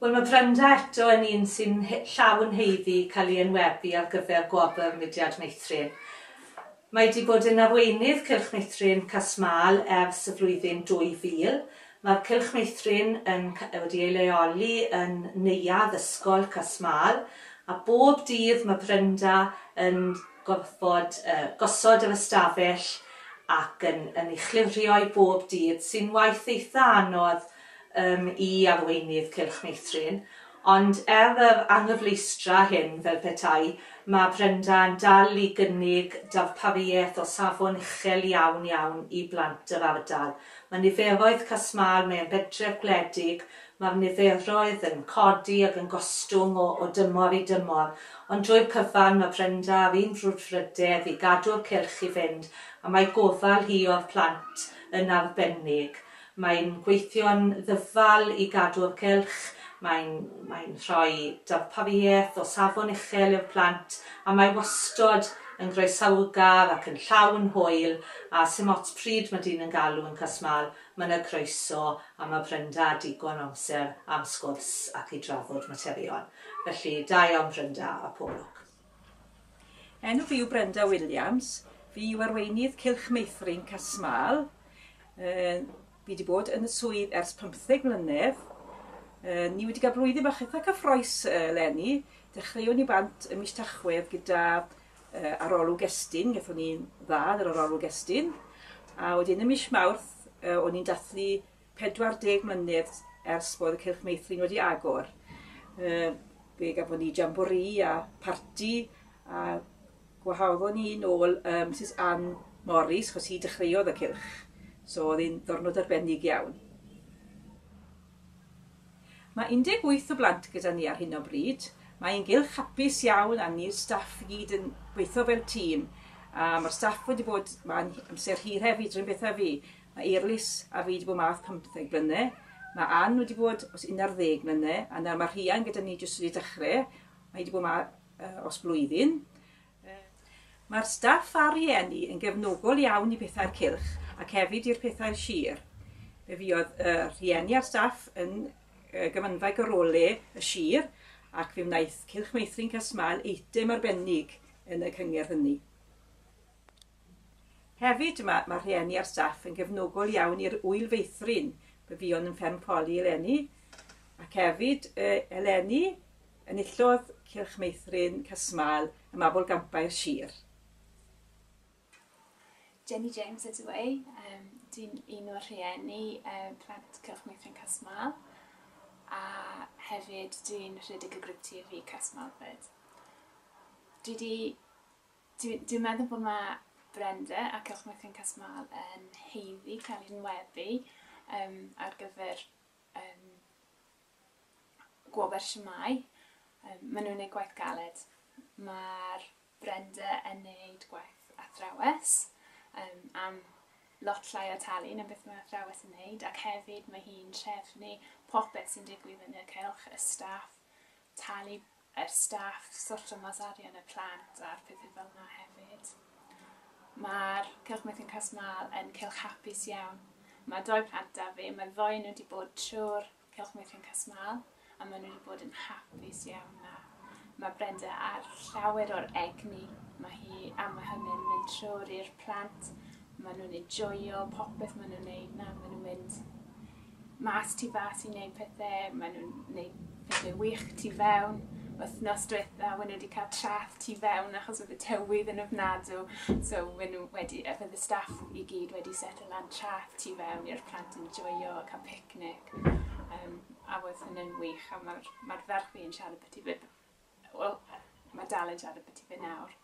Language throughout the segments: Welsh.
Wel, mae Brenda eto yn un sy'n llawn yn haeddu cael ei enwebu ar gyfer Gwobr Mudiad Meithrin. Mae wedi bod yn arweinydd Cylch Meithrin Cas-Mâl ers y flwyddyn 2000. Mae'r Cylch Meithrin yn wedi ei leoli yn Neuadd Ysgol Cas-Mâl a bob dydd mae Brenda yn gorfod gosod yr ystafell ac yn yn ei chlirio i bob dydd sy'n waith eitha anodd yym i arweinydd Cylch Meithrin ond er yr anghyfleustra hyn fel petai ma' Brenda yn dal i gynnig darpariaeth o safon uchel iawn iawn i blant yr ardal. Ma' niferoedd Cas Mâl mae e'n bentref gwledig Mae'r niferoedd yn codi ac yn gostwng o o dymor i dymor, ond drwy'r cyfan mae Brenda ar un frwdfrydedd i gadw'r cylch i fynd a mae gofal hi o'r plant yn arbennig. Mae'n gweithio'n ddyfal i gadw'r cylch, mae'n mae'n rhoi darpariaeth o safon uchel i'r plant a mae wastod yn groesawgar ac yn llawn hwyl a 'sdim ots pryd mae dyn yn galw yn cas mâl Mae yna groeso am y Brynda a digon o amser am sgwrs ac i drafod materion. Felly, da iawn Brynda a pob lwc. Enw fi yw Brenda Williams, fi yw arweinydd Cylch Meithrin Casmal. Fi wedi bod yn y swydd ers 15 mlynedd. Ni wedi cael blwyddyn bach eitha cyffroes leni. Dechreuon ni bant y mis Tachwedd gyda uh, arolwg estyn, gathon ni dda ar yr arolwg estyn, a wedyn y mis Mawrth, uh, o'n i'n dathlu 40 mlynedd ers bod y Cylch Meithrin wedi agor. Uh, fe gafon ni jambori a parti, a gwahoddon ni nôl um, Mrs Ann Morris, chos hi dechreuodd y cylch. So oedd hi'n ddornod arbennig iawn. Mae 18 o blant gyda ni ar hyn o bryd. Mae ein gylch hapus iawn a ni'r staff i gyd yn gweithio fel tîm. A mae'r staff wedi bod ma'n amser hir hefyd, rhywun beth a fi. Mae Eirlys a fi wedi bod math 15 blyne. Mae Ann wedi bod os 11 mlyne a nawr mae Rhian gyda ni jyst wedi dechrau. Mae wedi bod ma uh, os blwyddyn. Mae'r staff a'r rhieni yn gefnogol iawn i Pethau'r Cylch ac hefyd i'r Pethau'r Sir. Fe fuodd y rhieni a'r staff yn gyfanfaig o role y sir ac fe wnaeth Cylch Meithrin Casmael eitem arbennig yn y cyngerdd hynny. Hefyd, mae ma rhieni a'r staff yn gefnogol iawn i'r Ŵyl Feithrin. Fe fuon yn fferm Poli eleni, ac hefyd e, eleni, enillodd Cylch Meithrin Casmael y Mabwl Gampau'r Sir. Jenny James ydw i, um, dwi'n un o'r rhieni um, plant Cylch Meithrin Casmael, a hefyd dwi'n rhedeg y grwp TV Casmael fyd. Dwi wedi Dwi, dwi'n meddwl bod mae Brenda ac Ewch Mythion Cas Mâl yn heiddi cael ei nweddu um, ar gyfer um, gwobr siamau. Um, maen nhw'n gwneud gwaith galed. Mae'r Brenda yn gwneud gwaith athrawes um, am lot llai o talu na beth mae athrawes yn wneud ac hefyd mae hi'n trefnu popeth sy'n digwydd yn y cylch, y staff, talu yr staff sorto mas arian y plant a'r pethe fel 'na hefyd. Ma'r Cylch Meithrin Cas Mâl yn cylch hapus iawn. Ma' dou plant 'da fi, ma' ddou o nw 'di bod trw'r Cylch Meithrin Cas Mâl a ma' nw 'di bod yn hapus iawn 'na. Ma' Brenda ar llawer o'r egni ma' hi am ma' hynny'n mynd trw'r i'r plant, ma' nw'n enjoio popeth ma' nw'n neud 'na, ma' nw'n mynd mas tu fas i neud pethe, mae nhw'n neud pethe wych tu fewn. Wythnos diwetha, mae nhw wedi cael trath tu fewn achos oedd y tywydd yn ofnadw, so mae nhw wedi, a bydd y staff i gyd wedi setio lan trath tu fewn i'r plant yn joio, cael picnic. Um, a oedd hynny'n wych, a mae'r ma ferch fi yn siarad beth i fe, wel, mae dal yn siarad beth i fe nawr.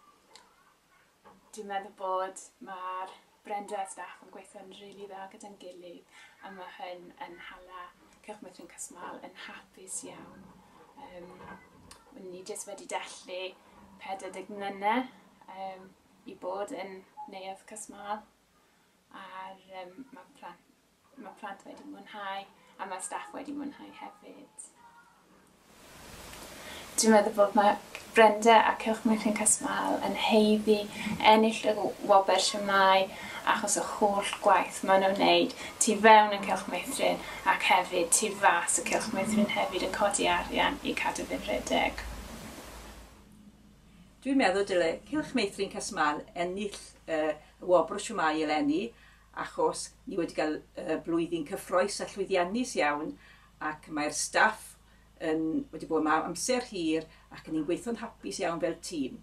Dwi'n meddwl bod ma'r Brenda a staff yn gweithio'n rili dda gyda'n gilydd a ma' hyn yn hala Cylch Meithrin Casmâl yn hapus iawn. Yym wn ni jyst wedi dathlu 40 mlyne yym i bod yn Neuadd Casmâl a'r yym ma' plant Mae plant wedi mwynhau a mae staff wedi mwynhau hefyd. Dwi'n meddwl bod mae Brenda a Cylch Mwynhau Casmael yn heiddi ennill y wobr siamau achos y holl gwaith maen nhw'n wneud tu fewn yn Cylch Meithrin ac hefyd tu fas y Cylch Meithrin hefyd yn codi arian i cadw fe'n rhedeg. Dwi'n meddwl dyle Cylch Meithrin Casmael ennill y wobr siamau eleni achos ni wedi cael blwyddyn cyffroes a llwyddiannus iawn ac mae'r staff yn wedi bod yma am amser hir ac ni'n gweithio'n hapus iawn fel tîm.